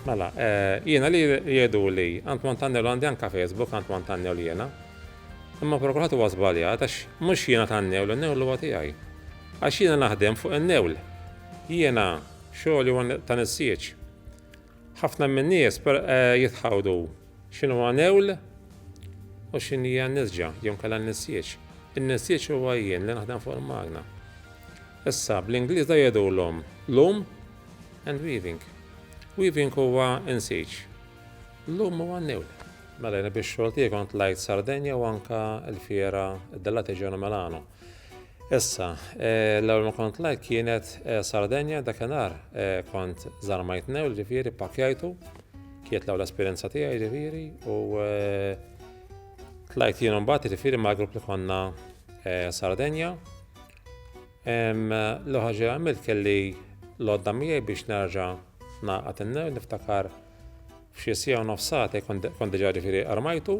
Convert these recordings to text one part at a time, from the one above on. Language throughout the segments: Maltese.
Mela, eh, jiena li jgħidu li għand Montagna l għandi anka Facebook għand Montagna l jiena. Imma prokurat huwa żbaljat għax mhux jiena tan-newl, in-newl huwa tiegħi. Għax jiena naħdem fuq in-newl. Jiena xogħol huwa ta' nissieċ. Ħafna min-nies eh, jitħawdu X'inhu għanewl u x'inhi n-nisġa jew inkella n-nisjiġ? In-nisjiġ huwa jien li naħdem fuq il-magna. Issa, bl-Ingliż da jgħidulhom loom and weaving. Weaving huwa insiġ. Loom huwa n-newl. Mela jien biex xogħol tiegħi kont lajt Sardenja u anka l-fiera id-dellati ġewna Milano. Issa, l-ewwel ma kont lajk kienet Sardenja dakinhar kont żarmajt new ġifieri pakjajtu kienet l-ewwel esperjenza tiegħi ġifieri u tlajt jien mbagħad ġifieri mal-grupp li konna Sardenja. L-ewwel ħaġa għamilt kelli l-għodda miegħi biex nerġa' naqgħad innew niftakar f'xi sija u nofsat kont diġà ġifieri armajtu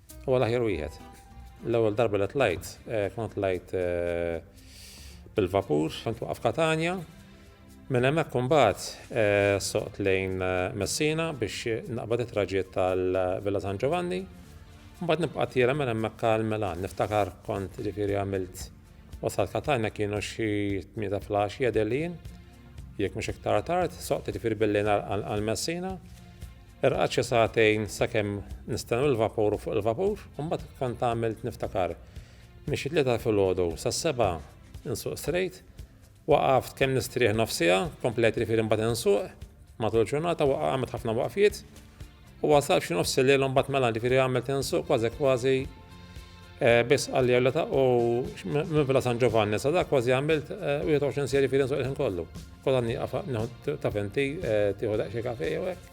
Huwa l-aħjar wieħed. L-ewwel darba li tlajt, eh, kont tlajt eh, bil-vapur, kont waqaf Katanja. Minn hemmhekk imbagħad eh, soqt lejn Messina biex naqbad it-traġiet tal-Villa San Giovanni. Mbagħad nibqa' tiela minn hemmhekk għal Milan. Niftakar kont ġifieri għamilt wasal Katanja kienu xi tmieta flax jadelin, jekk mhux iktar tard, soqt ġifieri billi għal Messina. Irqad xi sagħtejn sakemm nistennew il-vapur u fuq il-vapur, u mbagħad kont għamilt niftakar. Minn xi tlieta filgħodu sas-sebgħa insuq strejt, waqaft kemm nistrieħ nofs siegħa, komplejt irfieri mbagħad insuq matul ġurnata waqa' għamilt ħafna waqfiet u wasalt xi nofs il-lejl u mbagħad mela jiġifieri għamilt insuq kważi kważi Eh, biss għalli għalli ta' u minn Villa San Giovanni, sa' dak kważi għamilt 21 eh, seri fil nsuq il-ħin kollu. Kolla niqaf ta' fenti eh, tiħu daqxie kafe jew hekk.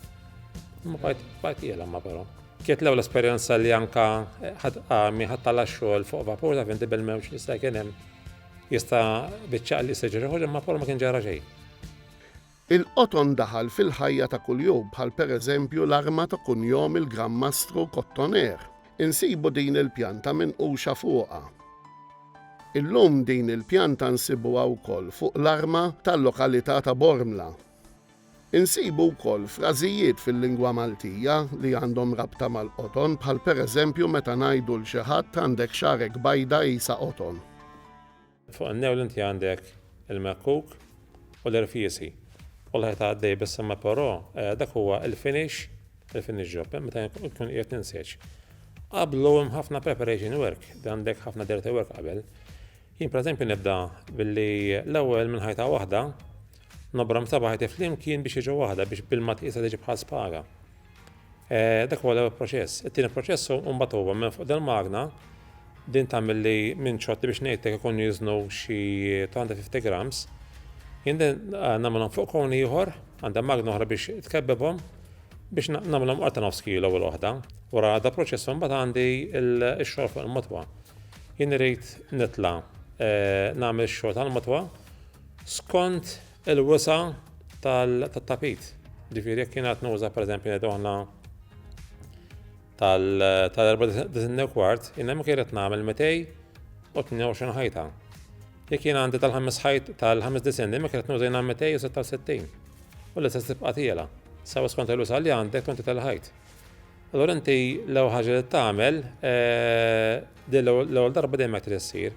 Ma bajt bajt jela ma però. Kiet l-ewwel esperjenza li anka ħad għami ħad tala xogħol fuq vapur ta' fenti bil-mewġ li sta' kien hemm jista' biċċaq li seġri ħoġ imma ma kien ġara xejn. Il-qoton daħal fil-ħajja ta' kuljum bħal pereżempju l-arma ta' kunjom il-Gran Mastru Kottoner. Insibu din il-pjanta minquxa fuqha. Illum din il-pjanta nsibuha wkoll fuq l-arma tal-lokalità ta' Bormla. Insibu wkoll frażijiet fil-lingwa Maltija li għandhom rabta mal-qoton bħal pereżempju meta ngħidu 'l xi ħadd għandek xagħrek bajda qisha qoton. Fuq in-newl inti għandek il-mekkuk u l-irfiesi u l-ħajt għaddej biss imma però eh, dak huwa il-finish, il-finish job, eh, meta jkun qiegħed ninseġ. Qablu hemm ħafna preparation work, għandek ħafna dirty work qabel. Jien pereżempju nibda billi l-ewwel minn ħajta waħda Nobra msabaħ jti flimkien biex jiġu waħda biex bilma tqisha tiġi bħal spaga. E, dak huwa l-ewwel proċess. It-tieni proċess u mbagħad huwa minn fuq dal-magna din tagħmel li minn ċotti biex ngħidlek ikun jiżnu xi 250 grams. Jien din eh, nagħmilhom fuq kon ieħor, għandha magna oħra biex tkebbebhom biex nagħmilhom qorta nofs kilo u l-oħda. Wara da proċess mbagħad għandi x-xogħol fuq il-motwa. Jien irid nitla' eh, nagħmel x-xogħol tal-motwa Skont il-wisa tat-tapit. Ġifieri jekk jien qed nuża pereżempju ngħidu aħna tal-94 kwart, jien hemm kienet nagħmel 222 ħajta. Jekk jien għandi tal-ħames ħajt tal-ħames disin, imma kienet nuża jien 266. U li se tibqa' tiela. Sawa skont il-wisa li għandek tonti tal-ħajt. Allora inti l-ewwel ħaġa li tagħmel eh, din l-ewwel darba dejjem qed issir.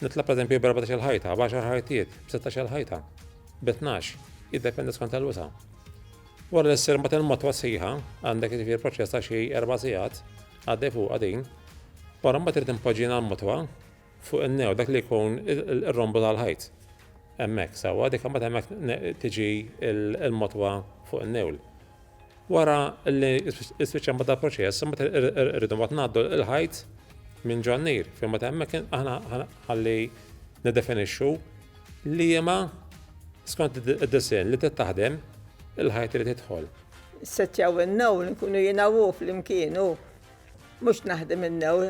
Nitla' pereżempju b'erbatax-il ħajta, b'għaxar ħajtiet, b'sittax-il ħajta, bi tnax, jiddependi skont il-wisa'. Wara li ssir mbagħad il-motwa sħiħa, għandek jiġifieri proċess ta' xi erba' sigħat, għaddej fuqha din, wara mbagħad irid impoġġina l-motwa fuq in-new dak li jkun ir-rombu tal-ħajt. Hemmhekk sewwa dik imbagħad hemmhekk tiġi l-motwa fuq in-newl. Wara li spiċċa mbagħad dal-proċess, mbagħad irridu mbagħad ngħaddu l-ħajt minn ġo n-nir, fejn mbagħad hemmhekk aħna ħalli niddefinixxu liema skont id-disinn li trid taħdem il-ħajt li tidħol. Settjaw in-new li nkunu jiena hu flimkien hu mhux naħdem in-new,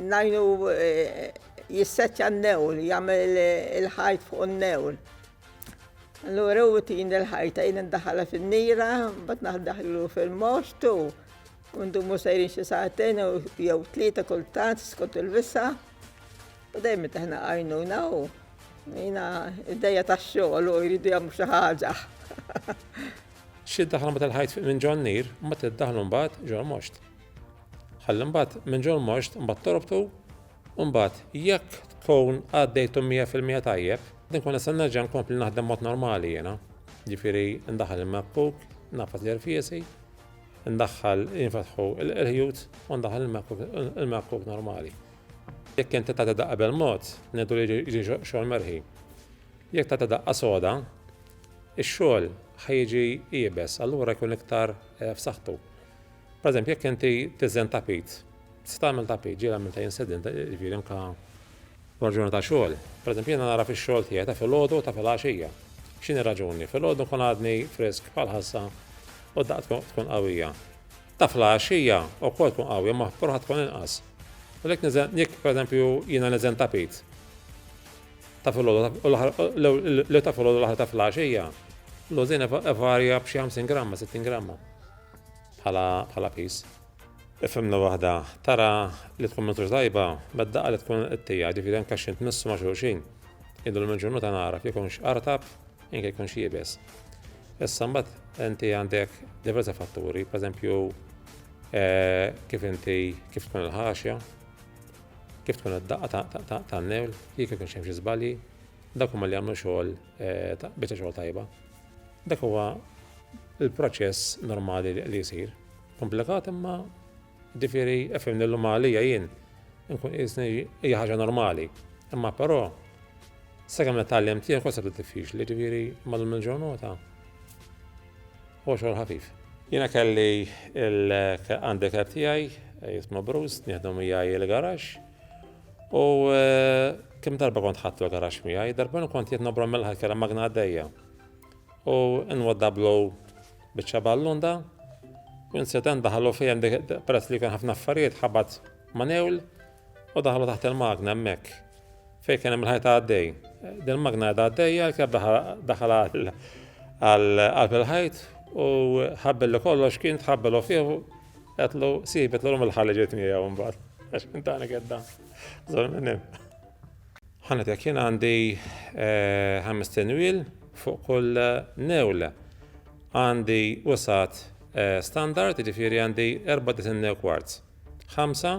ngħinu eh, jissettja n-new li jagħmel il-ħajt fuq in-new. Allura u tin il-ħajta jina ndaħala fin-nira, bat naħdaħlu fil-mostu, undu mu sejrin xi saatin u jew tlieta kultant skont il-visa. U dejjem taħna għajnu naw. Jina id-dejja ta' xogħol u jridu jagħmlu xi ħaġa. Xi daħla ma tal-ħajt minn ġon nir, ma tiddaħlu mbagħad ġol most. Ħalli mbagħad minn ġol most mbagħad torbtu Imbagħad, jekk tkun għaddejthom mija fil-mija tajjeb, din nkun nista' nerġa' nkompli naħdem mod normali jiena. Jiġifieri ndaħħal il-MacBook, nagħfas l-irfiesi, ndaħħal jinfetħu l-qirħjut u ndaħħal il-MacBook normali. Jekk inti tagħti daqqa bil-mod, ngħidu li jiġi xogħol merħi. Jekk tagħti daqqa soda, ix-xogħol ħajġi jiebes, allura jkun iktar eh, f'saħħtu. Per eżempju, jekk inti tiżen tapit, tista' tagħmel tapit, ġiel għamil ta' jinsedin, ġifieri anke raġuni ta' xogħol. Per eżempju, jiena nara fix-xogħol tiegħi ta' filgħodu ta' filgħaxija. X'inhi raġuni? Filgħodu nkun għadni frisk bħal ħassa u daqt tkun qawwija. Ta' filgħaxija wkoll tkun qawwija ma ħadd tkun inqas. U lek niżen, jekk per eżempju jiena niżen tapit, ta' filgħodu l ta' filgħodu l-aħħar ta' filgħaxija, l-użin evarja b'xi 50 gramma, 60 gramma. bħala piż. F'għemla waħda tara li tkun minn tajba, bad daqqa li tkun qtija, ġifieri anke xi tmissu ma' xulxin. Idu l-minġunu ta' nara jekk ikunx artab, jekk ikunx jibes. Issa mbagħad inti għandek diversi fatturi, pereżempju eh, kif inti kif tkun il-ħaxja, kif tkun id-daqqa tan-newl, jekk ikun xi żbalji, dak huma li jagħmlu xogħol eh, biċċa xogħol tajba. Dak huwa l-proċess normali li jsir. Komplikat imma ġifieri efhem lil għalija jien nkun qisni hija ħaġa normali. Imma però sakemm nitgħallem tiegħek kont sabda diffiċli ġifieri mallum il-ġurnata huwa xogħol ħafif. Jiena kelli l-handicap tiegħi jisma' Bruce, nieħdu miegħi l-garax. U kemm darba kont ħatlu garax miegħi, darba kont qed nobrom mill-ħadd kellha magna għaddejja. U nwadda blow biċċa ballunda, u insident daħlu fihem peress li kien ħafna affarijiet ħabat manewl u daħlu taħt il-magna hemmhekk. Fejn kien hemm il-ħajta għaddej. Din magna għadha għaddejja l-keb daħal għal il-ħajt u ħabbel li kollox kien tħabbelu fih Għatlu, si, betlu l-om il-ħalli ġejt miegħu mbagħad. Għax minn tani gedda. Zol minn hemm. Ħanet jekk jien għandi eh, ħames tenwil fuq kull eh, newla. Għandi usat eh, standard, ġifieri għandi erba' disin new kwarz. Ħamsa,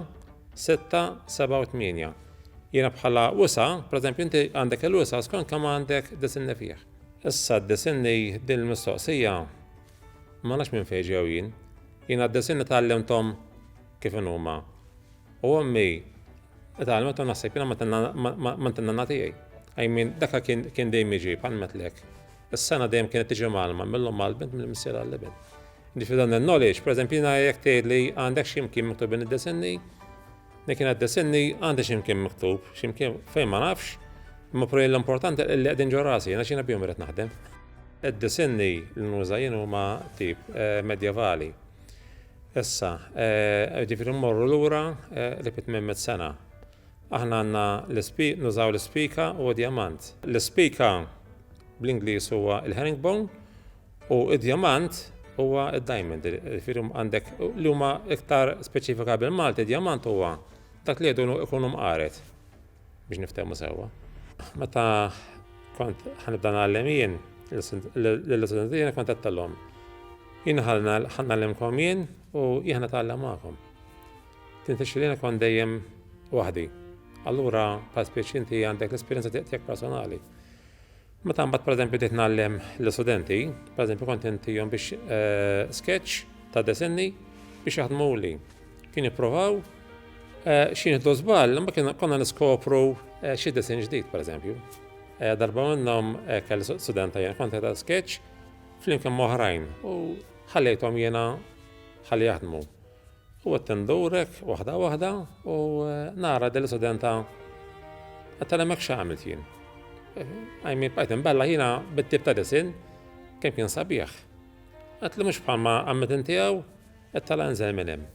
sitta, seba' u tminja. Jiena bħala usa, pereżempju inti għandek il-usa skont kemm għandek disinni fih. Issa d-disinni din il-mistoqsija Ma nafx minn fejn ġew jien. Jien għadda sena tgħallimthom kif inhuma. U ommi tgħalmet u naħseb jiena ma tinna tiegħi. I mean, dakha kien dejjem jiġi bħal metlek. Is-sena dejjem kienet tiġi malma mill-omm għall-bint mill-missier għall-ibn. Ġifieri dan il-knowledge, pereżempju jiena jekk tgħidli għandek xi mkien miktubin id-disinni, Li kienet desinni għandi ximkien miktub, ximkien fejn ma nafx, imma prej l-importanti li qegħdin ġo rasi, għax jiena bihom irid naħdem. Id-disinni li nuża jien huma tip eh, medjevali. Issa, eh, ġifieri mmorru lura eh, li fit mit sena. Aħna għandna l-ispik, nużaw l-ispika u d-diamant. L-ispika bl-Ingliż huwa il-herringbone U id-djamant huwa id-diamond, jifieri għandek li huma iktar speċifika bil-Malti, id-djamant huwa dak li jgħidu ikunu mqaret biex niftehmu sewwa. Meta kont ħanibda nagħlem jien l-istudenti jiena kont għattalhom. Jien ħalna ħannallimkom jien u jien ħanatgħallem magħkom. Tinti xilina kont dejjem waħdi. Allura, pa' spiex inti għandek l-esperienza tiegħek personali. Meta mbagħad pereżempju bdejt ngħallem l-istudenti, pereżempju kont intihom biex eh, sketch ta' desinni biex jaħdmuli. Kien jippruvaw eh, xi nieħdu żball, imma kien konna niskopru eh, xi desin ġdid pereżempju. Darba minnhom kelli studenta jien kont ta' sketch flimkien moħrajn u ħallejthom jiena ħalli jaħdmu. U qed indurek waħda waħda u nara din l-istudenta qed tal hemmhekk x'għamilt jien. Għajmi bqajt imbella jiena bit-tip ta' disin kemm kien sabiħ. Qed li mhux bħalma għammet intiegħu qed tal inżel minn hemm.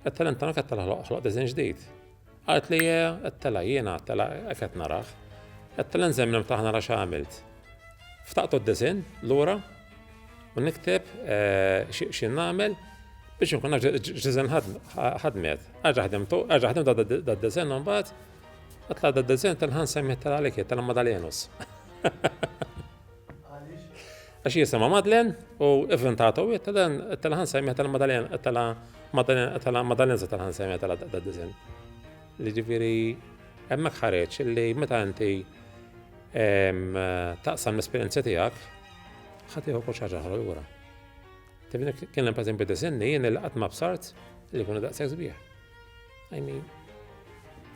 Qed tal inta ma qed tal ħloq disin ġdid. Qalt li, Qed telgħa jiena, telgħa hekk qed narah. Qed telgħa nżemm l-imħ tagħha nara x'għamilt. Ftaqtu d-disinn lura u nikteb x'in nagħmel biex inkun naf x'diżinn ħadmet. Għaġa ħdimtu, għaġa ħdimtu dad-disinn u mbagħad Għatla da d-dizin tal-ħan semmi tal-għalik tal-Madalenus. Għax jisima Madlen u ivventata u jittelen tal ħansajmi tal Madalen tal Madalen tal Madalen tal ħansajmi tal da dizin. Li ġifiri hemmhekk ħareġ li meta inti taqsam l-esperjenza tiegħek ħatiħu kull xaġa ħra jura. Tifni kien hemm pereżempju disinni jien il qatt ma bsart li jkunu daqshekk sbieħ. I mean,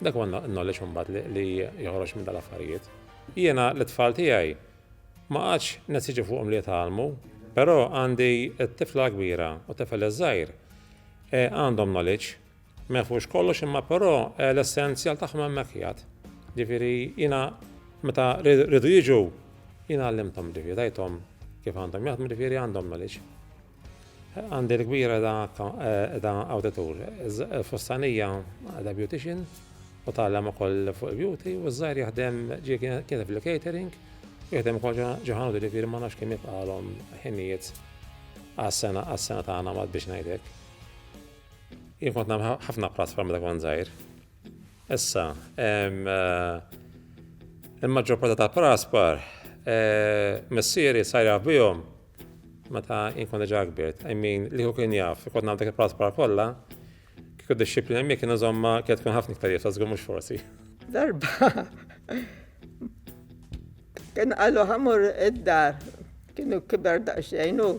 dak huwa knowledge imbagħad li joħroġ minn dal-affarijiet. Jiena l-itfal tiegħi ma qatx nesiġi fuqhom li jitgħallmu, però għandi t-tifla kbira u tifel iż-żgħir eh, għandhom knowledge ma jafux kollox imma però eh, l-essenzjal tagħhom hemmhekk jgħad. Ġifieri jiena meta rridu jiġu jiena għallimthom ġifieri tajthom kif għandhom jaħdmu ġifieri għandhom knowledge. Għandi l-kbir da awditur, il-fussanija da beautician u tgħallem ukoll fuq il-beauty u ż-żgħir jaħdem ġie kien fil-catering u jaħdem ukoll ġo ħanut ġifieri ma nafx kemm jibqgħalhom ħinijiet għas-sena għas-sena tagħna Malti biex ngħidlek. Jien kont nagħmel ħafna platform meta kont żgħir. Issa, il-maġġor parti tal-praspar missieri sar jaf bihom Meta jien kont diġà kbirt, I mean, li kieku kien jaf, kont nagħmel dak il-praspar kollha, kieku d-dixxiplina miegħi kien iżommha kienet tkun ħafna iktar jibsa, żgur mhux forsi. Darba kien qalu ħamur id-dar, kienu kiber daqsxejn u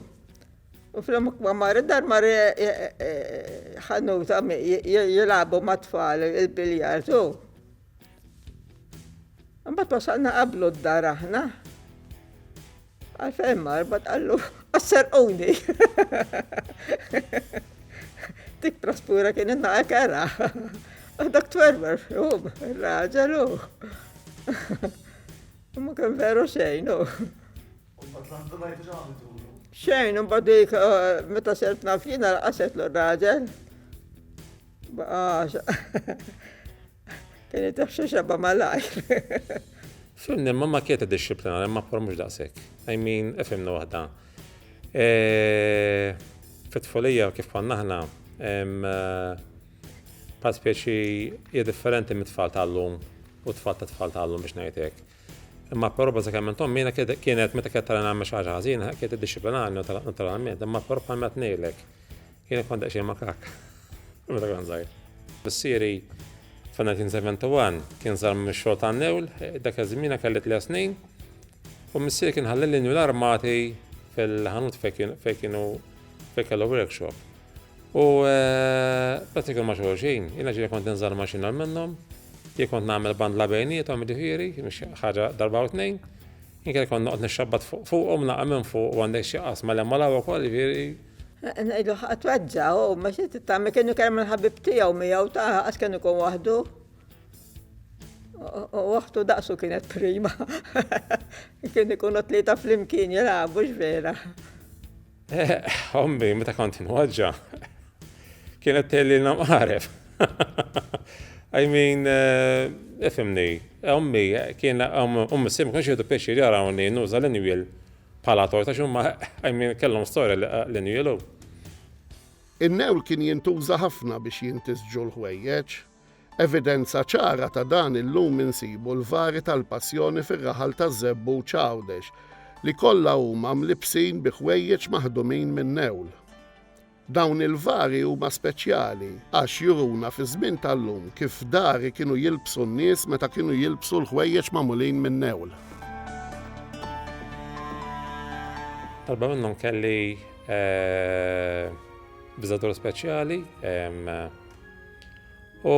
U fl-omuk ma marri dar marri eh, eh, eh, ħanuta jilabu ma tfal il-biljard u. Mbatt wasalna qablu d-dar aħna. Għalfejn mar bat qallu għas-serquni. Dik traspura kien inna ekera. Dak twerwer fjum, raġel u. Ma kien veru xejn u. Xejn, un badik, eh, meta sert nafjina l-qaset l-raġel. Baqa. Kien jitaf xi xebba malajr. Sunni imma ma kieta dixxiplina, imma por mhux daqshekk. I mean, ifhimni waħda. Eh, Fit-tfulija kif konna aħna, eh, bħal speċi hija differenti mit-tfal tal-lum u t-tfal ta' tfal tal-lum biex ngħidlek. Imma però bażikament ommi kienet meta kienet tara nagħmel xi ħaġa ħażina, kienet iddixxiplinarni naturalment, imma però bħal ma tnejlek. Jien kont daqsxejn makak. Meta kont żgħir. Missieri f'1971 kien sar mix-xogħol ta' newl, dak iż-żmien kelli tliet snin, u missieri kien ħalli l-inju l-armati fil-ħanut fejn kienu fejn kellu workshop. U bat eh, ikun ma' xulxin, jiena ġiri kont inżal maċina minnhom, jien kont nagħmel bandla bejnietom ġifieri, ħaġa darba u tnejn, jien kien kont noqgħod nixxabbat fuqhom naqa' minn fuq u għandek xi qasma l-hemm u l-hawn ukoll ġifieri Ngħidlu ħadd weġġa' u ma xi tagħmel kienu kemm il-ħabib tiegħu miegħu ta' għax kien ikun waħdu. U waħdu daqsu kienet prima. Kien ikunu tlieta flimkien jilagħbu vera. Eh, ommi, meta kont inwaġġa, kienet telli namqaref. I mean, eh, ifimni, ommi, kien ommi sim kħax jgħidu pieċi li għarawni nuża l-injwil Bħala tort għax huma I mean kellhom storja li qegħlin jielu. In-newl kien jintuża ħafna biex jintisġu l-ħwejjeġ. Evidenza ċara ta' dan illum insibu l-vari tal-Passjoni fir-raħal taż-Żebbuġ Għawdex li kollha huma mlibbsin bi ħwejjeġ maħdumin min-newl. Dawn il-vari huma speċjali għax juruna fiż-żmien tal-lum kif dari kienu jilbsu n-nies meta kienu jilbsu l-ħwejjeġ magħmulin min-newl. Darba minnhom kelli biżadur speċjali u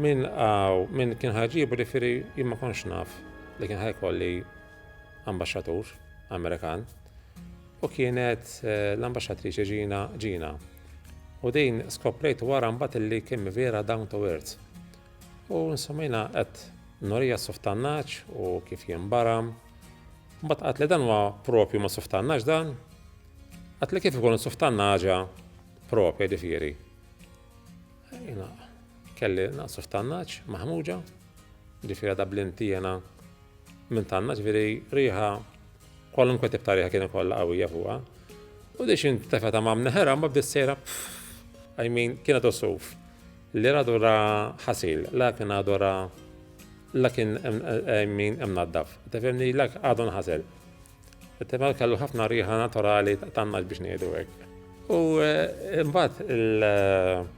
min qaw min kien ħa jġibu ġifieri jien ma kontx naf li kien ħa jkolli ambaxxatur Amerikan. u kienet l-Ambaxxatriċi Gina Gina. U din skoprejt wara mbagħad illi kemm vera down to earth. U nsomina qed norija suftannaċ u kif jimbaram. Mbagħad qatt li dan huwa propju ma suftannaċ dan. Qatt li kif ikun suftannaġa propja ġifieri. Jina kelli naqsu f'tannaċ, maħmuġa, ġifiri da blinti jena minn tannaċ, veri riħa Kwalunkwe tip ta' riħa kien ikollha qawwija fuqha. U dix intefa ta' mamna ħera ma bdiet sejra I mean kien għadu suf. Li radu ra ħasil, la kien għadu ra la kien I mean hemm naddaf. Tefemni la għadu nħasel. Tefemni mela kellu ħafna riħa naturali tannaġ biex ngħidu hekk. U eh, mbagħad il-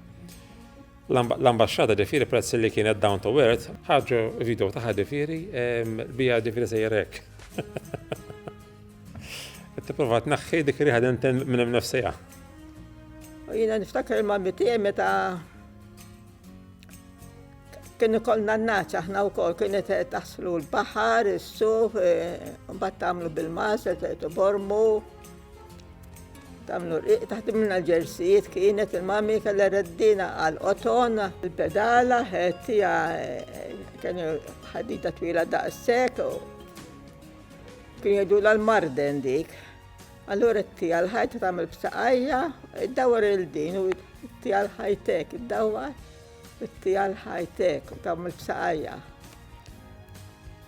L-Ambaxxata ġifieri peress li kienet down to earth, ħarġu video tagħha ġifieri bija ġifieri sejjer hekk. Qed tipprova tneħħi dik riħa denten minn hemm nifsiha. Jiena niftakar ma' mitija meta kien ikollna n-naċ aħna wkoll kienet taħslu l-baħar, is-suf, mbagħad tagħmlu bil-mas, bormu. Tamlu rqiq taħdimna l-ġersijiet kienet il-mami kellha reddina għal qoton. Il-pedala ħettija kienu ħadita twila daqshekk u kien jgħidu l-marden dik. Allura t-tija l-ħajt tagħmel b'saqajja, id-dawar il-din u t-tija l-ħajtek, id-dawar it-tija l-ħajtek u tagħmel b'saqajja.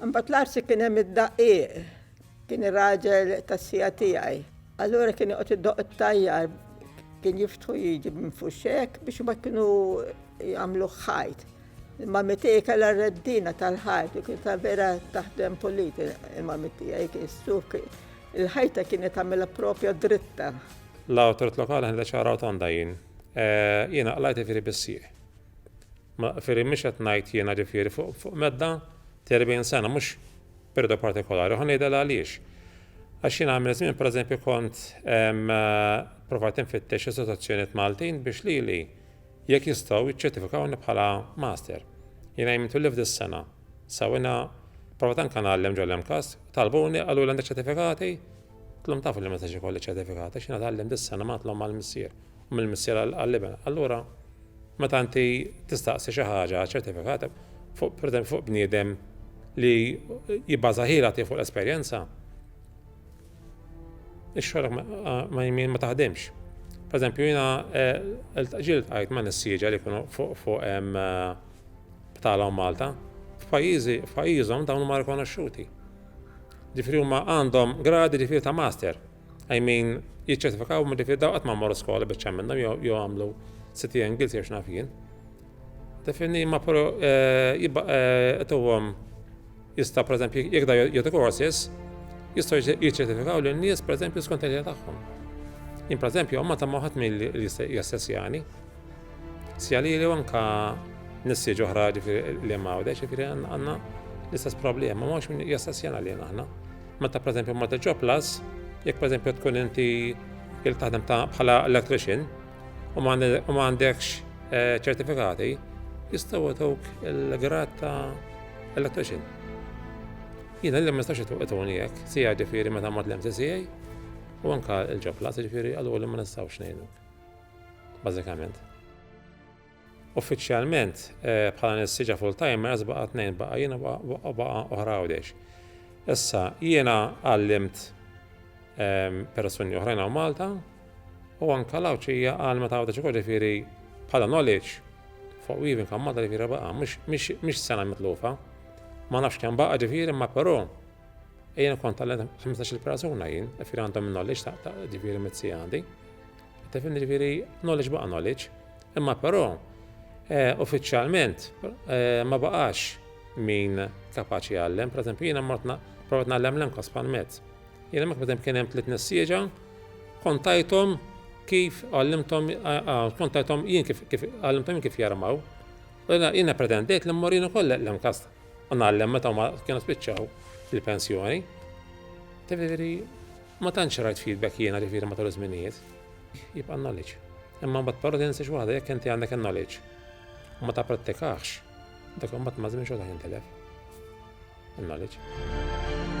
Imbagħad l-għarsi kien hemm id-daqqiq. Kien ir-raġel tas-siegħa tiegħi. Allura kien joqgħod idoqq it-tajjar, kien jiftħu jiġi minn fuxxek biex imbagħad kienu jagħmlu ħajt. Il-mami tiegħi kellha r-reddina tal-ħajt u kien ta' vera taħdem pulit il-mami tiegħi kien suk il-ħajta kienet tagħmilha propja dritta. L-awtorit lokali ħadet ċara rotonda jien. Jiena qlajt ifieri bis-sieq. Ma ġifieri mhux qed ngħid jiena ġifieri fuq fuq medda ta' 40 sena mhux perjodu partikolari, ħa ngħidha għaliex. Għax jiena għamil żmien pereżempju kont provajt infittex istituzzjonijiet Maltin biex lili jekk jistgħu jiċċertifikawni bħala master. Jiena jmitu li f'dis sena. Sa jiena provajt anke ngħallem ġol MCAS, talbuni qaluli għandek ċertifikati? Tlhom tafu li ma jistax ikolli ċertifikati għax jiena tgħallimt dis sena ma tlhom mal-missier. mill-missier għall-iben. Allura meta inti tistaqsi xi ħaġa ċertifikat fuq pretend fuq bniedem li jibbaża ħila tiegħu fuq l-esperjenza, ix-xogħol ma jmin ma taħdimx. Per eżempju, jiena eh, ġiel tqajt ma' nissieġa li jkunu fuq fuq eh, btalhom Malta, f'pajjiżi f'pajjiżhom dawn huma rikonoxxuti. Ġifri huma għandhom gradi ġifri ta' master. I mean, jiċċertifikaw minn ġifir daw qatt ma mmorru skola biex għamilna jew għamlu city angles jew x'naf jien. Definni ma pro eh, jibqa' eh, tuhom jista' pereżempju jekk da jagħtu courses jistgħu jiċċertifikaw lin nies pereżempju skont il tagħhom. Jien pereżempju ma ta' moħat milli jassessjani. Sjali li anka nissi ġoħra li ma' għawdex, ġifiri għanna l-istess problema, ma' mux minn jassessjana li għanna. Meta pereżempju ma tiġġob plus, jekk pereżempju tkun inti il taħdem ta' bħala electrician u ma għandekx eh, ċertifikati, jistgħu jtuk il-grad ta' electrician. Jiena li ma nistax ituni jekk, sija ġifieri meta mod l-MCCA u anka il-ġobla, ġifieri għallu li ma nistgħux ngħinu. Bażikament. Uffiċjalment, bħala nissieġa full-timers baqa' tnejn, baqa' jien u baqa' oħra Għawdex. Issa, jiena għallimt persuni oħrajn hawn Malta u anke l-Għawdxija għallmet Għawdex ukoll ġifieri bħala knowledge fuq weaving hawn Malta ġifieri baqa' mhix sena mitlufa. Ma nafx kemm baqa' ġifieri imma però jien kont għallimt 15-il persuna jien, ġifieri għandhom in-knowledge ta' ġifieri mit-sija għandi. Tefhem jiġifieri knowledge baqa' knowledge, imma però eh, uffiċjalment eh, ma baqax min kapaċi jgħallem. Per eżempju, jiena mortna provat nagħllem l-emka spanmet. Jiena mek bidem kien hemm tliet nissieġa, kontajthom kif għallimthom kontajthom jien kif għallimthom kif jarmaw. Jiena pretendejt li mmur jien ukoll l-emkas u nagħllem meta ma kienu spiċċaw il-pensjoni. Tifiri, Ma tantx rajt feedback jiena ġifieri matul iż-żminijiet. Jibqa' knowledge. Imma mbagħad però tinsiex waħda jekk inti għandek in-knowledge u ma tapprattikaħx, dak imbagħad maż-żmien xorta jintilef. In-knowledge.